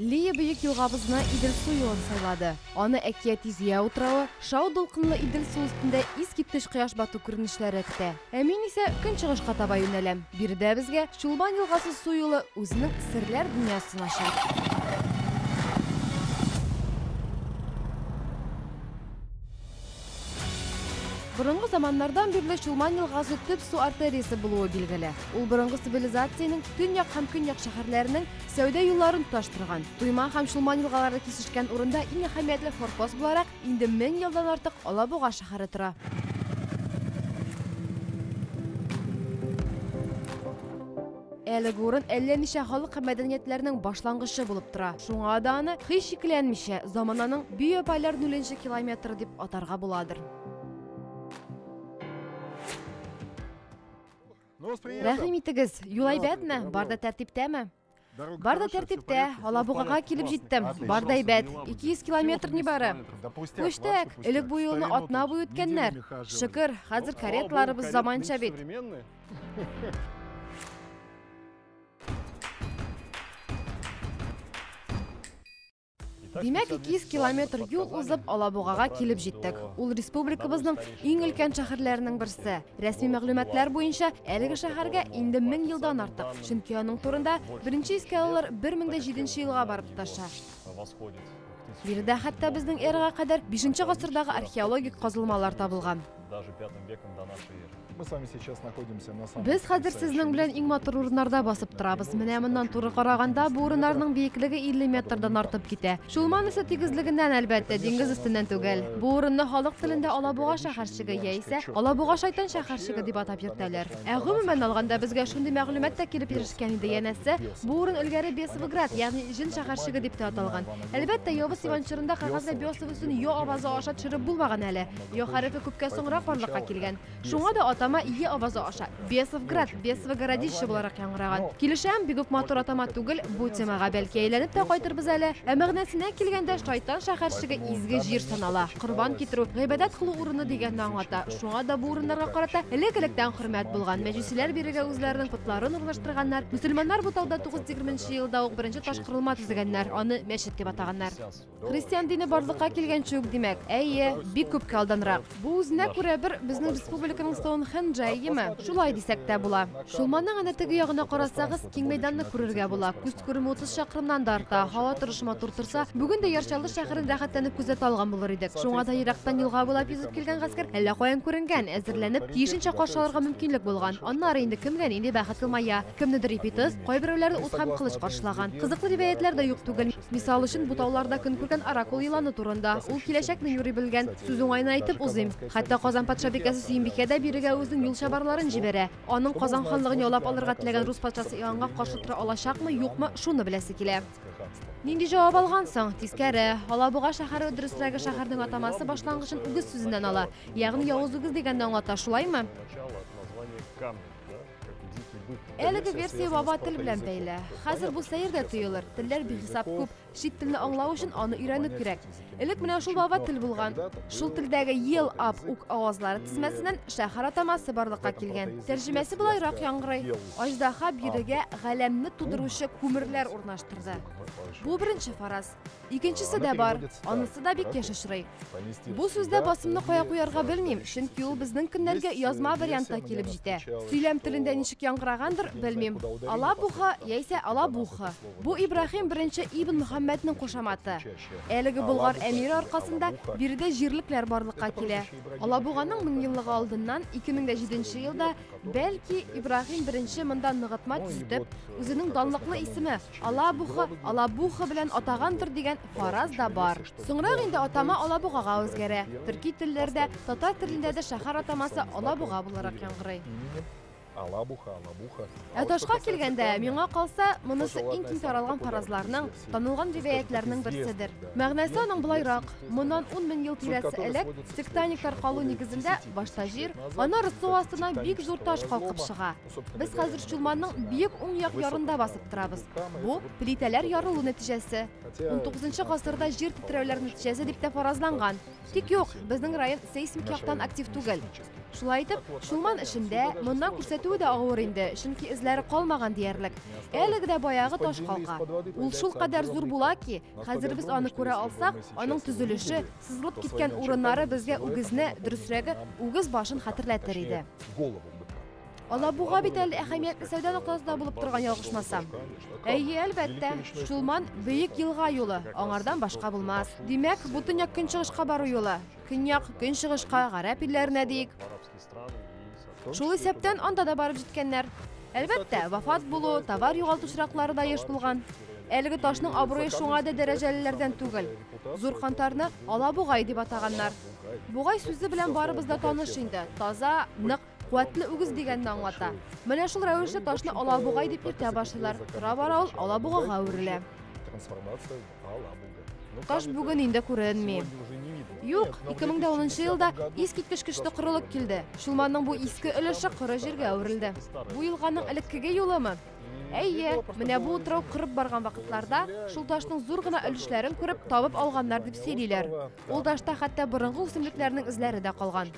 Лия бөек елгабызны Идел су елын сайлады. Аны әкияти Зөя утравы, шау дулкынлы Идел су өстендә искиткеч кояш бату күренешләре көтә. Ә мин исә көнчыгышка таба юнәләм. Биредә безгә Чулман елгасы су юлы үзенең серләр дөньясын ача. Борынгы заманнардан бирле Чулман елгасы төп су артериясе булуы билгеле. Ул борынгы цивилизациянең төньяк һәм көньяк шәһәрләренең сәүдә юлларын тоташтырган. Туйма һәм Чулман елгалары кисешкән урында иң әһәмиятле форпост буларак инде мең елдан артык Алабуга шәһәре тора. Әлеге урын әллә ничә халык һәм мәдәниятләрнең башлангычы булып тора. Шуңа да аны, һич шикләнмичә, замананың Бөй-апайлар нуленче километры дип атарга буладыр. Рәхим итегез, юл әйбәтме? Бар да тәртиптәме? Бар да тәртиптә, Алабугага килеп җиттем. Бар да әйбәт, 200 километр нибары. Пүчтәк, элек бу юлны атна буе үткәннәр. Шөкер, хәзер каретларыбыз заманча бит. Димәк, 200 километр юл узып, Алабугага килеп җиттек. Ул республикабызның иң өлкән шәһәрләренең берсе. Рәсми мәгълүматлар буенча, әлеге шәһәргә инде 1000 елдан артык, чөнки аның турында беренче искә алулар 1007 елга барып тоташа. Биредә хәтта безнең эрага кадәр 5 гасырдагы археологик казылмалар табылган. Без хәзер сезнең белән иң матур урыннарда басып торабыз. Менә моннан туры караганда, бу урыннарның биеклеге 50 метрдан артып китә. Чулман исә тигезлегеннән, әлбәттә, диңгез өстеннән түгел. Бу урынны халык телендә Алабуга шәһәрчеге яисә Алабуга шайтан шәһәрчеге дип атап йөртәләр. Ә гомумән алганда, безгә шундый мәгълүмат та килеп ирешкән иде, янәсе, бу урын элгәре Бесовград, ягъни Җен шәһәрчеге дип тә аталган. Әлбәттә, явыз Иван чорында кәгазьгә Бесов өстен йо авазы аша төшереп булмаган әле. Ё хәрефе күпкә соңрак барлыкка килгән. Шуңа да атама Е авазы аша Бесовград, Бесвогородище буларак яңгыраган. Килешәм, бигүк матур атама түгел, бу темага бәлки әйләнеп тә кайтырбыз әле. Ә мәгънәсенә килгәндә, Шайтан шәһәрчеге изге җир санала. Корбан китерү, гыйбадәт кылу урыны дигәнне аңлата. Шуңа да бу урыннарга карата элек-электән хөрмәт булган. Мәҗүсиләр бирегә үзләренең потларын урнаштырганнар. Мөселманнар бу тауда тугыз тегерменче елда ук беренче ташкорылма төзегәннәр, аны мәчет дип атаганнар. Христиан дине барлыкка килгәнче үк, димәк. Әйе, бик күпкә алданрак. Бу үзенә күрә бер безнең республиканың Стоунхенджы, әйеме? Шулай дисәк тә була. Чулманның әнә теге ягына карасагыз, киң мәйданны күрергә була. Күз күреме утыз чакрымнан да арта. Һава торышы матур торса, бүген дә Яр Чаллы шәһәрен рәхәтләнеп күзәтә алган булыр идек. Шуңа да ерактан елга буйлап йөзеп килгән гаскәр әллә каян күренгән, әзерләнеп, тиешенчә каршы алырга мөмкинлек булган. Аннары инде кемгә нинди бәхет елмая. Кемнедер ипи тыз, кайберәүләрне ут һәм кылыч каршылаган. Кызыклы риваятьләр дә юк түгел. Мисал өчен, бу тауларда көн күргән Оракул еланы турында. Ул киләчәкне юри белгән. Сүз уңаена әйтеп узыйм. Хәтта Казан патшабикәсе Сөембикә дә бирегә үзенең юл чабарларын җибәрә. Аның Казан ханлыгын яулап алырга теләгән рус патшасы Иоаннга каршы тора алачакмы, юкмы, шуны беләсе килә. Нинди җавап алгансың? Тискәре. Алабуга шәһәре, дөресрәге, шәһәрнең атамасы башлангычын үгез сүзеннән ала. Ягъни явыз үгез дигәнне аңлата, шулаймы? Әлеге версия баба тел белән бәйле. Хәзер бу сәер дә тоелыр. Телләр бихисап күп. Чит телне аңлау өчен аны өйрәнү кирәк. Элек менә шул баба тел булган. Шул телдәге ел ап ук авазлары тезмәсеннән шәһәр атамасы барлыкка килгән. Тәрҗемәсе болайрак яңгырый. Аждаһа бирегә галәмне тудыручы күмерләр урнаштырды. Бу беренче фараз. Икенчесе дә бар, анысы да бик еш очрый. Бу сүздә басымны кая куярга белмим, чөнки ул безнең көннәргә язма вариантта килеп җитә. Сөйләм телендә ничек яңгырагандыр, белмим. Алабуха яисә Алабуха. Бу Ибраһим беренче Ибн Мөхәммәднең кушаматы. Әлеге Болгар әмире аркасында биредә җирлекләр барлыкка килә. Алабуганың меңьеллыгы алдыннан 2007 елда Бәлки, Ибрагим беренче монда ныгытма төзетеп, үзенең данлыклы исеме Алабуха, Алабуха белән атагандыр дигән фараз да бар. Соңрак инде атама Алабугага үзгәрә. Төрки телләрдә, татар телендә дә шәһәр атамасы Алабуга буларак яңгырый. Алабуха, Алабуха. Ә ташка килгәндә, миңа калса, монысы иң киң таралган фаразларның Танылган ривәятләрнең берседер. Мәгънәсе аның болайрак, моннан ун мең ел тирәсе элек тектоник таркалу нигезендә башта җир, аннары су астына бик зур таш калкып чыга. Без хәзер Чулманның биек уң як ярында басып торабыз. Бу, плитәләр ярылу нәтиҗәсе. Унтугызынчы гасырда җир тетрәүләр нәтиҗәсе дип тә фаразланган. Тик юк, безнең район сейсмик яктан актив түгел. Шулай итеп, Шулман эшендә моннан күрсәтүе дә авыр инде, чөнки эзләре калмаган диярлек. Әлеге дә баягы таш калка. Ул шул кадәр зур була ки, хәзер без аны күрә алсак, аның төзелеше, сызылып киткән урыннары безгә үгезне, дөресрәге, үгез башын хәтерләтер иде. Алабуга бит әле әһәмиятле сәүдә ноктасында булып торган ялгышмасам. Әйе, әлбәттә, Чулман бөек елга юлы, аңардан башка булмас. Димәк, бу төньяк көнчыгышка бару юлы. Көньяк, көнчыгышка, гарәп илләренә диик. Шул исәптән анда да барып җиткәннәр. Әлбәттә, вафат булу, товар югалту очраклары да еш булган. Әлеге ташның абруе шуңа да дәрәҗәлеләрдән түгел. Зур кантарны Алабугай дип атаганнар. Бугай сүзе белән барыбыз да таныш инде. Таза, нык Куәтле үгез дигәнне аңлата. Менә шул рәвешле ташны алабугай дип йөртә башлыйлар. Тора бара ул алабугага әверелә. Трансформация алабуга. Таш бүген инде күренми. Юк, 2010 елда искиткеч көчле корылык килде. Чулманның бу иске өлеше коры җиргә әверелде. Бу елганың элеккеге юлымы? Әйе, менә бу утрау кырып барган вакытларда шул ташның зур гына өлешләрен күреп табып алганнар дип сөйлиләр. Ул ташта хәтта борынгы үсемлекләрнең эзләре дә калган.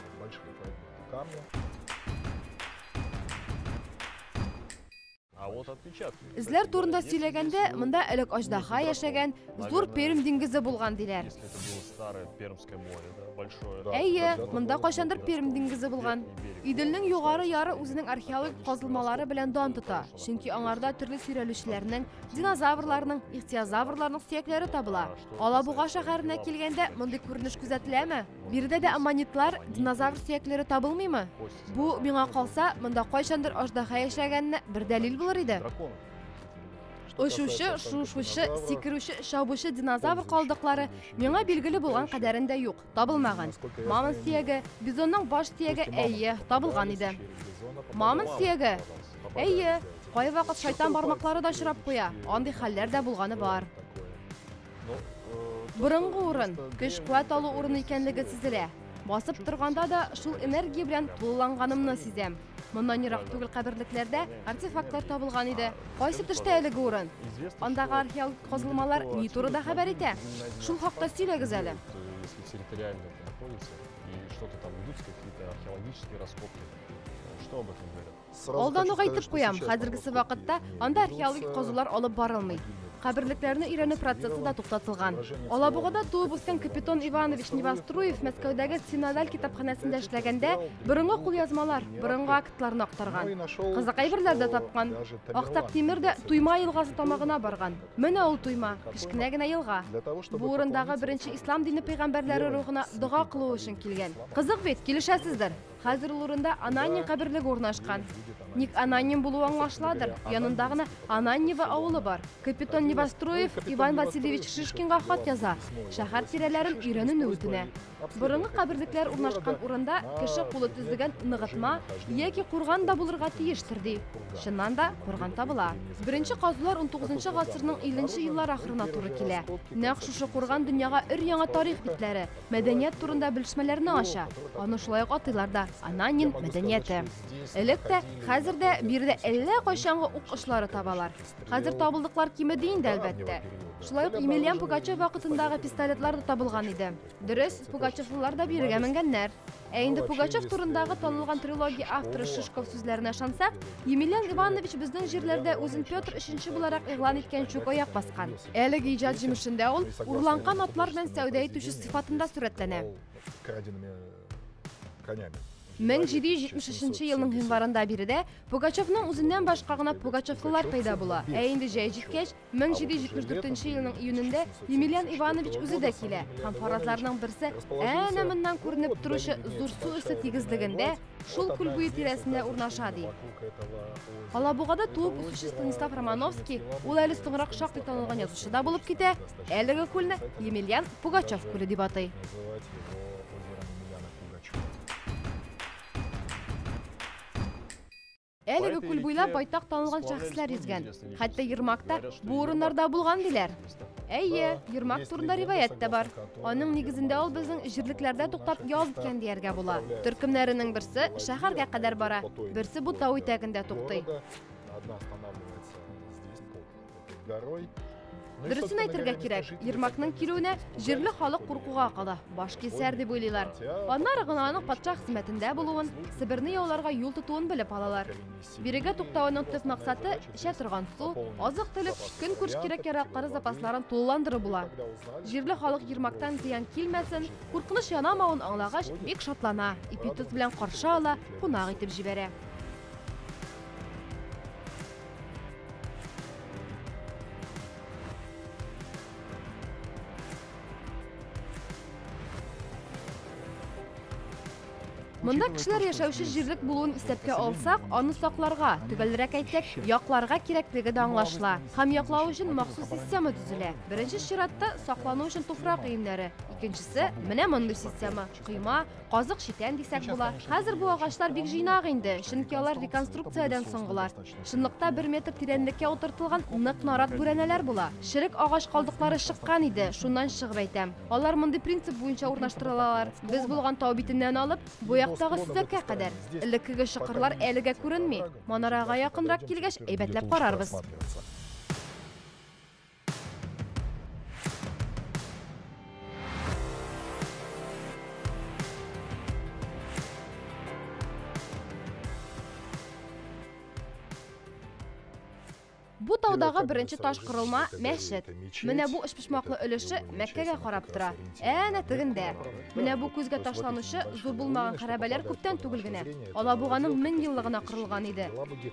Эзләр турында сөйләгәндә, монда элек аждаха яшәгән, зур Пермь диңгезе булган диләр. Әйе, монда кайчандыр Пермь диңгезе булган. Иделнең югары яры үзенең археологик казылмалары белән дан тота, чөнки аңарда төрле сөйрәлүчеләрнең, динозаврларның, ихтиозаврларның сөякләре табыла. Алабуга шәһәренә килгәндә, мондый күренеш күзәтеләме? Биредә дә аммонитлар, динозавр сөякләре табылмыймы? Бу, миңа калса, монда кайчандыр аждаһа яшәгәненә бер дәлил булыр иде. Очучы, шушучы, сикерүче, чабучы динозавр калдыклары миңа билгеле булган кадәрен дә юк, табылмаган. Мамонт сөяге, бизонның баш сөяге, әйе, табылган иде. Мамонт сөяге? Әйе, кайвакыт шайтан бармаклары да очрап куя, андый хәлләр дә булганы бар. Борынгы урын, көч-куәт алу урыны икәнлеге сизелә. Басып торганда да шул энергия белән тулыланганымны сизәм. Моннан ерак түгел каберлекләрдә артефактлар табылган иде. Кайсы төштә әлеге урын? Андагы археологик казылмалар ни турыда хәбәр итә? Шул хакта сөйләгез әле. Если территориально это находится, и что-то там идут какие-то археологические раскопки, что об этом говорят? Алдан ук әйтеп куям, хәзергесе вакытта анда археологик казулар алып барылмый. Каберлекләрне өйрәнү процессы да туктатылган. Алабугада туып үскән Капитон Иванович Невоструев Мәскәүдәге Синодаль китапханәсендә эшләгәндә борынгы кулъязмалар, борынгы актларны актарган. Кызык әйберләр дә тапкан. Актак Тимер дә Туйма елгасы тамагына барган. Менә ул Туйма, кечкенә генә елга. Бу урындагы беренче ислам дине пәйгамбәрләре рухына дога кылу өчен килгән. Кызык бит, килешәсездер. Хәзер ул урында Ананья каберлеге урнашкан. Ник Ананьем булуы аңлашыладыр, янында гына Ананьево авылы бар. Капитон Невостроев Иван Васильевич Шишкинга хат яза, шәһәр тирәләрен өйрәнүне үтенә. Борынгы каберлекләр урнашкан урында кеше кулы төзегән ныгытма яки курган да булырга тиештер, ди. Чыннан да, курган табыла. Беренче казулар унтугызынчы гасырның илленче еллар ахырына туры килә. Нәкъ шушы курган дөньяга өр-яңа тарих битләре, мәдәният турында белешмәләрне ача. Аны шулай ук атыйлар да Ананин мәдәнияте. Элек тә, хәзер дә биредә әллә кайчангы ук очлары табалар. Хәзер табылдыклар кимеди инде, әлбәттә. Шулай ук Емельян Пугачев вакытындагы пистолетлар да табылган иде. Дөрес, пугачевлылар да бирегә менгәннәр. Ә инде Пугачев турындагы танылган трилогия авторы Шишков сүзләренә ышансак, Емельян Иванович безнең җирләрдә үзен Петр өченче буларак игълан иткән чук аяк баскан. Әлеге иҗат җимешендә ул урланган атлар белән сәүдә итүче сыйфатында сурәтләнә. 1773 елның гыйнварында биредә Пугачевның үзеннән башка гына пугачевлылар пәйда була, ә инде җәй җиткәч, 1774 нче елның июнендә Емельян Иванович үзе дә килә һәм фаразларның берсе әнә моннан күренеп торучы зур су өсте тигезлегендә, шул күл буе тирәсендә урнаша, ди. Алабугада туып үсүче Станислав Романовский, ул әле соңрак шактый танылган язучы да булып китә, әлеге күлне Емельян Пугачев күле дип атый. Әлеге күл буйлап байтак танылган шәхесләр йөзгән. Хәтта Ермакта бу урыннарда булган диләр. Әйе, Ермак турында риваять тә бар. Аның нигезендә ул безнең җирлекләрдә туктап ял иткән дияргә була. Төркемнәренең берсе шәһәргә кадәр бара, берсе бу тау итәгендә туктый. Дөресен әйтергә кирәк, Ермакның килүенә җирле халык куркуга кала, баш кисәр дип уйлыйлар. Аннары гына аның патша хезмәтендә булуын, Себерне яуларга юл тотуын белеп алалар. Бирегә туктауының төп максаты эчә торган су, азык-төлек, көнкүреш кирәк-яраклары запасларын тулыландыру була. Җирле халык Ермактан зыян килмәсен, куркыныч янамавын аңлагач, бик шатлана, ипи-тоз белән каршы ала, кунак итеп җибәрә. Монда кешеләр яшәүче җирлек булуын исәпкә алсак, аны сакларга, төгәлрәк әйтсәк, якларга кирәклеге дә аңлашыла. Һәм яклау өчен махсус система төзелә. Беренче чиратта саклану өчен туфрак өемнәре, икенчесе менә мондый система, койма, Казык читән дисәк була. Хәзер бу агачлар бик җыйнак инде, чөнки алар реконструкциядән соңгылар. Чынлыкта бер метр тирәнлеккә утыртылган нык нарат бүрәнәләр була. Черек агач калдыклары чыккан иде, шуннан чыгып әйтәм. Алар мондый принцип буенча урнаштырылалар. Без булган тау битеннән алып, бу яктагы сөзәккә кадәр. Элеккеге чокырлар әлегә күренми. Манарага якынрак килгәч, әйбәтләп карарбыз. Бу таудагы беренче таш кырылма мәчет. Менә бу өчпочмаклы өлеше Мәккәгә карап тора. Әнә тегендә. Менә бу күзгә ташланучы зур булмаган хәрабәләр күптән түгел генә Алабуганың мең еллыгына кырылган иде.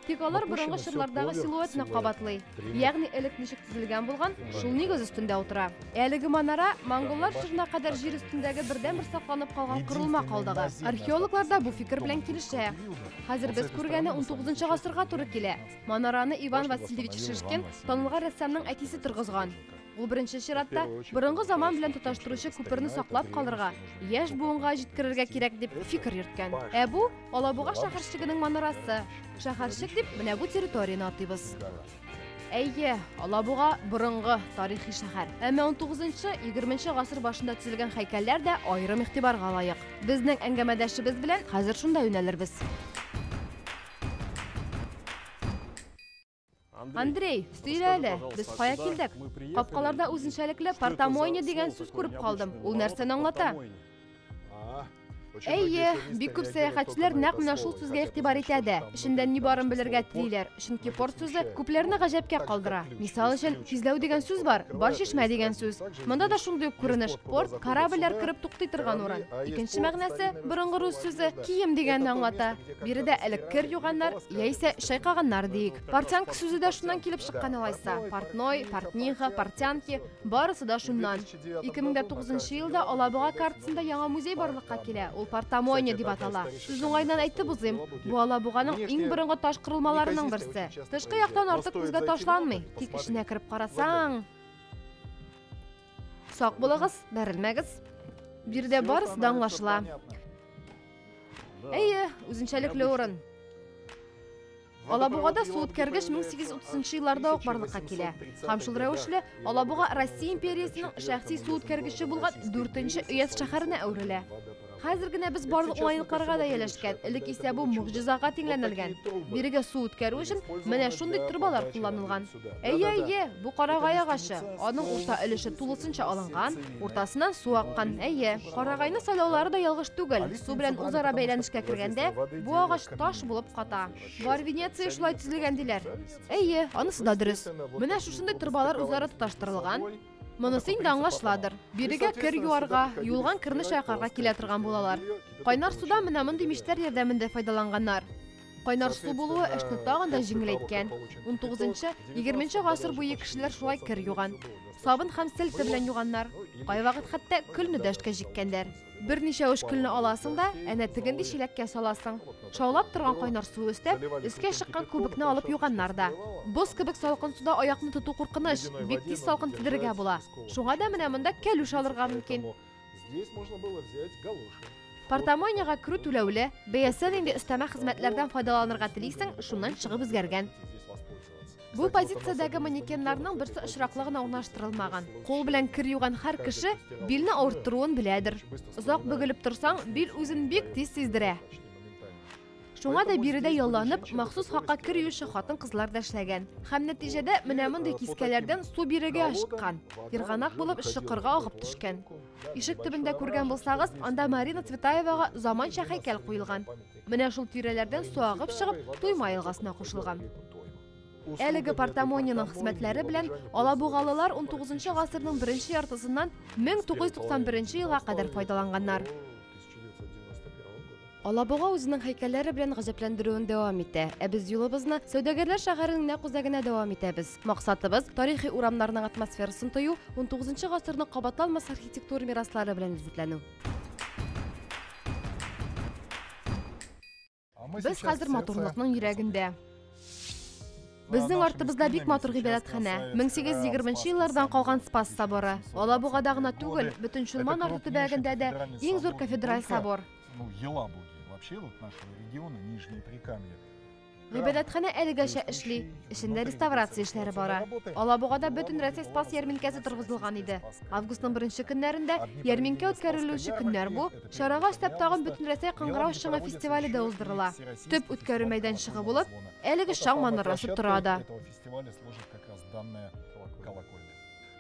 Тик алар борынгы чорлардагы силуэтны кабатлый. Ягъни элек ничек төзелгән булган, шул нигез өстендә утыра. Әлеге манара монголлар чорына кадәр җир өстендәге бердәнбер сакланып калган корылма калдыгы. Археологлар да бу фикер белән килешә. Хәзер без күргәне 19 гасырга туры килә. Манараны Иван Васильевич Шишкин, танылган рәссамның әтисе торгызган. Ул беренче чиратта борынгы заман белән тоташтыручы күперне саклап калырга, яшь буынга җиткерергә кирәк дип фикер йөрткән. Ә бу Алабуга шәһәрчегенең манарасы. Шәһәрчек дип менә бу территорияне атыйбыз. Әйе, Алабуга борынгы тарихи шәһәр. Әмма 19-20 гасыр башында төзелгән һәйкәлләр дә аерым игътибарга лаек. Безнең әңгәмәдәшебез белән хәзер шунда юнәлербез. Андрей, сөйлә әле, без кая килдек? Капкаларда үзенчәлекле портомойня дигән сүз күреп калдым. Ул нәрсәне аңлата? Әйе, бик күп сәяхәтчеләр нәкъ менә шул сүзгә игътибар итә дә. Эчендә ни барын белергә телиләр, чөнки порт сүзе күпләрне гаҗәпкә калдыра. Мисал өчен, кизләү дигән сүз бар, бар чишмә дигән сүз. Монда да шундый ук күренеш. Порт корабльләр кереп туктый торган урын. Икенче мәгънәсе, борынгы рус сүзе кием дигәнне аңлата. Биредә элек кер юганнар, яисә чайкаганнар диик. Портянка сүзе дә шуннан килеп чыккан алайса. Портной, портниха, портянки, барысы да шуннан. 2009 елда Алабуга картасында яңа музей барлыкка килә. Ул портамойня дип атала. Сүз уңайыннан әйтеп узыйм, бу Алабуганың иң борынгы таш корылмаларының берсе. Тышкы яктан артык күзгә ташланмый, тик эченә кереп карасаң, Сак булыгыз, бәрелмәгез. Биредә барысы да аңлашыла. Әйе, үзенчәлекле урын. Алабугада су үткәргеч 1830 елларда ук барлыкка килә. Һәм шул рәвешле Алабуга Россия империясенең шәхси су үткәргече булган 4 нче өяз шәһәренә әверелә. Хәзер генә без барлык уңайлыкларга да ияләшкән. Элек исә бу могҗизага тиңләнелгән. Бирегә су үткәрү өчен менә шундый торбалар кулланылган. Әйе, әйе, бу карагай агачы. Аның урта өлеше тулысынча алынган, уртасыннан су аккан. Әйе, карагайны сайлаулары да ялгыш түгел. Су белән үзара бәйләнешкә кергәндә, бу агач таш булып ката. Бар Венеция шулай төзелгән диләр. Әйе, анысы да дөрес. Менә шушындый торбалар үзара тоташтырылган. Монысы инде аңлашыладыр. Бирегә кер юарга, юылган керне чайкарга килә торган булалар. Кайнар суда менә мондый мичләр ярдәмендә файдаланганнар. Кайнар су булуы эшне тагын да җиңеләйткән. 19-20 гасыр буе кешеләр шулай кер юган. Сабын һәм сельта белән юганнар. Кайвакыт хәтта көлне дә эшкә җиккәннәр. Берничә уч көлне аласың да, әнә тегенди чиләккә саласың. Шаулап торган кайнар су өстәп, өскә чыккан күбекне алып юганнар да. Боз кебек салкын суда аякны тоту куркыныч, бик тиз салкын тидерергә була. Шуңа да менә монда кәлүш алырга мөмкин. Здесь можно было взять галоши. Портомойняга керү түләүле, бәясе нинди өстәмә хезмәтләрдән файдаланырга телисең, шуннан чыгып үзгәргән. Бу позициядәге манекеннарның берсе очраклы гына урнаштырылмаган. Кул белән кер юган һәр кеше билне авырттыруын беләдер. Озак бөгелеп торсаң, бил үзен бик тиз сиздерә. Шуңа да биредә ялланып, махсус хакка кер юучы хатын-кызлар да эшләгән. Һәм нәтиҗәдә менә мондый кискәләрдән су бирегә ашыккан, ерганак булып, чокырга агып төшкән. Ишек төбендә күргән булсагыз, анда Марина Цветаевага заманча һәйкәл куелган. Менә шул тирәләрдән су агып чыгып, Туйма елгасына кушылган. Әлеге Портамониның хезмәтләре белән алабугалылар 19 гасырның беренче яртысыннан 1991 елга кадәр файдаланганнар. Алабуга үзенең һәйкәлләре белән гаҗәпләндерүен дәвам итә. Ә без юлыбызны Сәүдәгәрләр шәһәренең нәкъ үзәгенә дәвам итәбез. Максатыбыз, тарихи урамнарның атмосферасын тою, унтугызынчы гасырның кабатланмас архитектура мираслары белән ләззәтләнү. Без хәзер матурлыкның йөрәгендә. Безнең артыбызда бик матур гыйбадәтханә, 1820 нчы еллардан калган Спас соборы. Алабугада гына түгел, бөтен Чулман арты төбәгендә дә иң зур кафедраль собор. Ну, Елабуги, вообще вот нашего региона, Нижние Прикамья. Гыйбадәтханә әлегәчә эшли. Эчендә реставрация эшләре бара. Алабугада бөтен Рәсәй спас ярминкәсе торгызылган иде. Августның беренче көннәрендә ярминкә үткәрелүче көннәр бу. Чарага өстәп тагын бөтен Рәсәй кыңгырау шыңы фестивале дә уздырыла. Төп үткәрү мәйданчыгы булып, әлеге шаң манарасы тора да.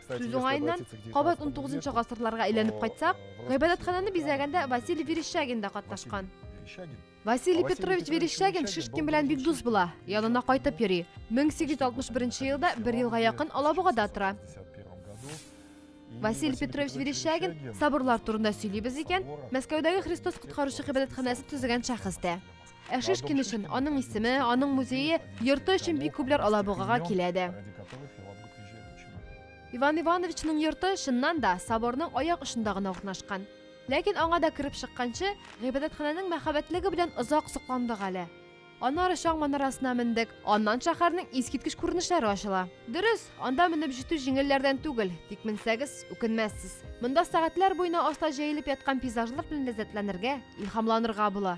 Сүз уңаеннан, кабат 19 гасырларга әйләнеп кайтсак, гыйбадәтханәне бизәгәндә Василий Верещагин да катнашкан. Василий Петрович Верещагин Шишкин белән бик дус була, янына кайтып йөри. 1861 елда бер елга якын Алабугада тора. Василий Петрович Верещагин соборлар турында сөйлибез икән, Мәскәүдәге Христос коткаручы гыйбадәтханәсе төзегән шәхес тә. Ә Шишкин өчен аның исеме, аның музее, йорты өчен бик күпләр Алабугага килә дә. Иван Ивановичның йорты чыннан да соборның аяк очында гына урнашкан. Ләкин аңа да кереп чыкканчы, гыйбадәтханәнең мәхәббәтлеге белән озак сокландык әле. Аннары чаң манарасына мендек, аннан шәһәрнең искиткеч күренешләре ачыла. Дөрес, анда менеп җитү җиңелләрдән түгел, тик менсәгез, үкенмәссез. Монда сәгатьләр буена аста җәелеп яткан пейзажлар белән ләззәтләнергә, илһамланырга була.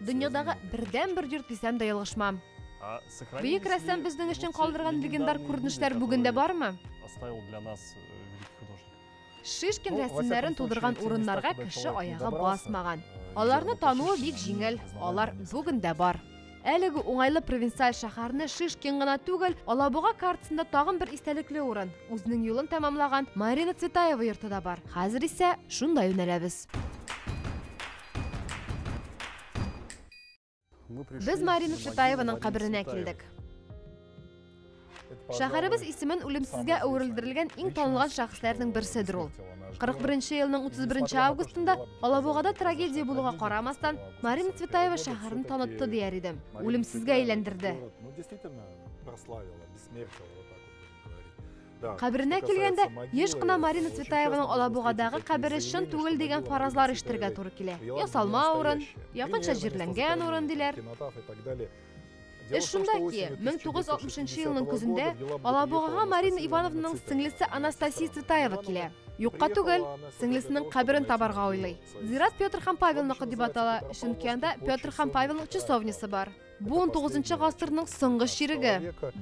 Дөньядагы бердәнбер йорт дисәм дә ялгышмам. Бөек рәссам безнең өчен калдырган легендар күренешләр бүген дә бармы? Оставил для нас э, великий художник. Шишкин рәсемнәрен тудырган урыннарга кеше аягы басмаган. Э, Аларны тануы бик җиңел, алар бүген дә бар. Әлеге уңайлы провинциаль шәһәрне Шишкин гына түгел, Алабуга картасында тагын бер истәлекле урын, үзенең юлын тәмамлаган Марина Цветаева йорты да бар. Хәзер исә шунда юнәләбез. Без Марина Шитаеваның каберенә килдек. Шәһәребез исемен үлемсезгә әверелдерелгән иң танылган шәхесләрнең берседер ул. 41 елның 31 августында Алабугада трагедия булуга карамастан, Марина Цветаева шәһәрен танытты дияр идем. Үлемсезгә әйләндерде. Каберенә килгәндә, еш кына Марина Цветаеваның Алабугадагы кабере чын түгел дигән фаразлар ишетергә туры килә. Ясалма урын, якынча җирләнгән урын, диләр. Эш шунда ки, 1960 елның көзендә Алабугага Марина Ивановнаның сеңлесе Анастасия Цветаева килә. Юкка түгел, сеңлесенең каберен табарга уйлый. Зират Петр һәм Павелныкы дип атала, чөнки анда Петр һәм Павелның часовнясы бар. Бу 19 гасырның соңгы чиреге.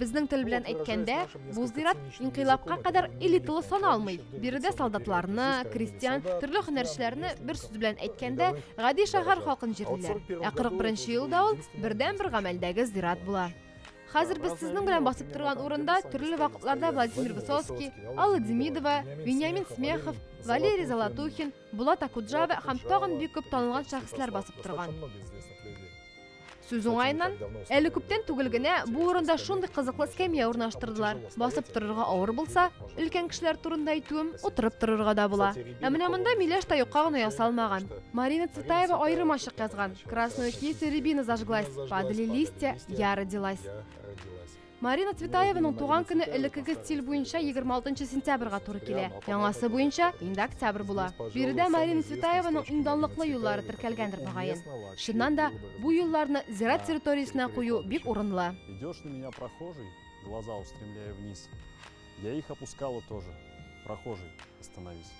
Безнең тел белән әйткәндә, бу зират инкыйлабка кадәр элиталы саналмый. Биредә солдатларны, крестьян, төрле һөнәрчеләрне бер сүз белән әйткәндә, гади шәһәр халкын җирлиләр. Ә 41 елда ул бердәнбер гамәлдәге зират була. Хәзер без сезнең белән басып торган урында төрле вакытларда Владимир Высоцкий, Алла Демидова, Вениамин Смехов, Валерий Золотухин, Булат Акуджава һәм тагын бик күп танылган шәхесләр басып торган. Сүз уңаеннан, әле күптән түгел генә бу урында шундый кызыклы скамья урнаштырдылар. Басып торырга авыр булса, өлкән кешеләр турында әйтүем, утырып торырга да була. Ә менә монда миләш та юкка гына ясалмаган. Марина Цветаева аерым ачык язган. Красную кисти рябина зажглась, падали листья, я родилась. Марина Цветаеваның туган көне элеккеге стиль буенча 26 сентябрьга туры килә. Яңасы буенча инде октябрь була. Биредә Марина Цветаеваның иң данлыклы юллары теркәлгәндер мөгаен. Чыннан да, бу юлларны зират территориясенә кую бик урынлы. Идешь на меня прохожий, глаза устремляя вниз. Я их опускала тоже, прохожий, остановись.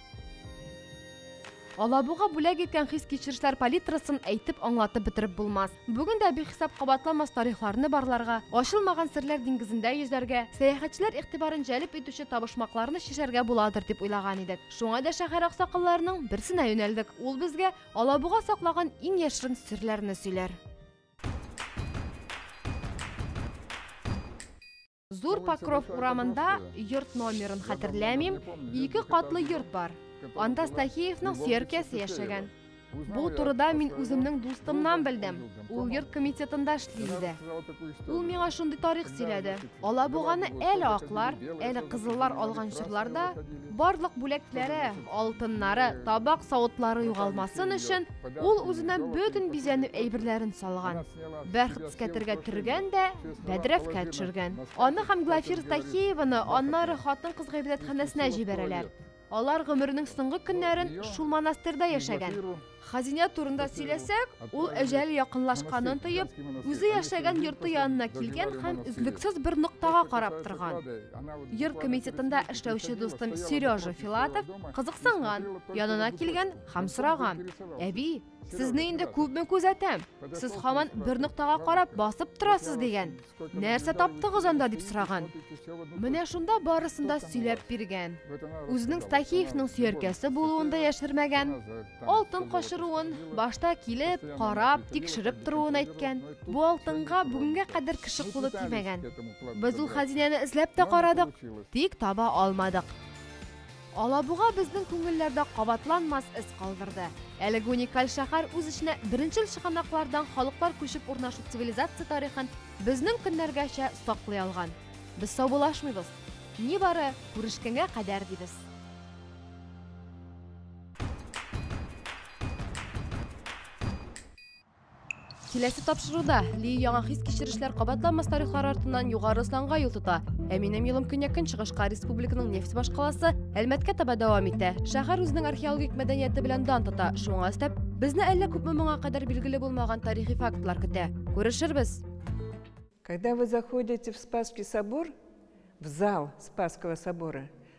Алабуга бүләк иткән хис-кичерешләр палитрасын әйтеп аңлатып бетереп булмас. Бүген дә бихисап кабатламас тарихларны барларга, ачылмаган серләр диңгезендә йөзәргә, сәяхәтчеләр игътибарын җәлеп итүче табышмакларны чишәргә буладыр дип уйлаган идек. Шуңа да шәһәр аксакалларының берсенә юнәлдек. Ул безгә Алабуга саклаган иң яшерен серләрне сөйләр. Зур Покров урамында йорт номерын хәтерләмим, ике катлы йорт бар. Анда Стахеевның сөяркәсе яшәгән. Бу турыда мин үземнең дустымнан белдем. Ул йорт комитетында эшли иде. Ул миңа шундый тарих сөйләде. Алабуганы әле аклар, әле кызыллар алган чорларда барлык бүләкләре, алтыннары, табак-савытлары югалмасын өчен, ул үзенә бөтен бизәнү әйберләрен салган. Бәхт скәтергә төргән дә, бәдрәфкә төшергән. Аны һәм Глафир Тахееваны аннары хатын-кыз гыйбадәтханәсенә җибәрәләр. Алар гомеренең соңгы көннәрен шул монастырьда яшәгән. Хәзинә турында сөйләсәк, ул әҗәле якынлашканын тоеп, үзе яшәгән йорты янына килгән һәм өзлексез бер ноктага карап торган. Йорт комитетында эшләүче дустым Сережа Филатов кызыксынган, янына килгән һәм сораган: "Әби, Сезне инде күпме күзәтәм. Сез хаман бер ноктага карап басып торасыз дигән. Нәрсә таптыгыз анда дип сораган. Менә шунда барысын да сөйләп биргән. Үзенең Стахиевның сөяркәсе булуын да яшермәгән. Алтын качыруын башта килеп, карап, тикшереп торуын әйткән. Бу алтынга бүгенгә кадәр кеше кулы тимәгән. Без ул хәзинәне эзләп тә карадык, тик таба алмадык. Алабуга безнең күңелләрдә кабатланмас эз калдырды. Әлеге уникаль шәһәр үз эченә беренчел чыганаклардан халыклар күчеп урнашу цивилизация тарихын безнең көннәргәчә саклый алган. Без саубуллашмыйбыз. Нибары, күрешкәнгә кадәр дибез. Киләсе тапшыруда Ли яңа хис-кичерешләр кабатланмас тарихлар артыннан Югары Осланга юл тота, ә минем юлым көньяк-көнчыгышка республиканың нефть башкаласы Әлмәткә таба дәвам итә. Шәһәр үзенең археологик мәдәнияте белән дан тота, шуңа өстәп, безне әллә күпме моңа кадәр билгеле булмаган тарихи фактлар көтә. Күрешербез! Когда вы заходите в Спасский собор, в зал Спасского собора,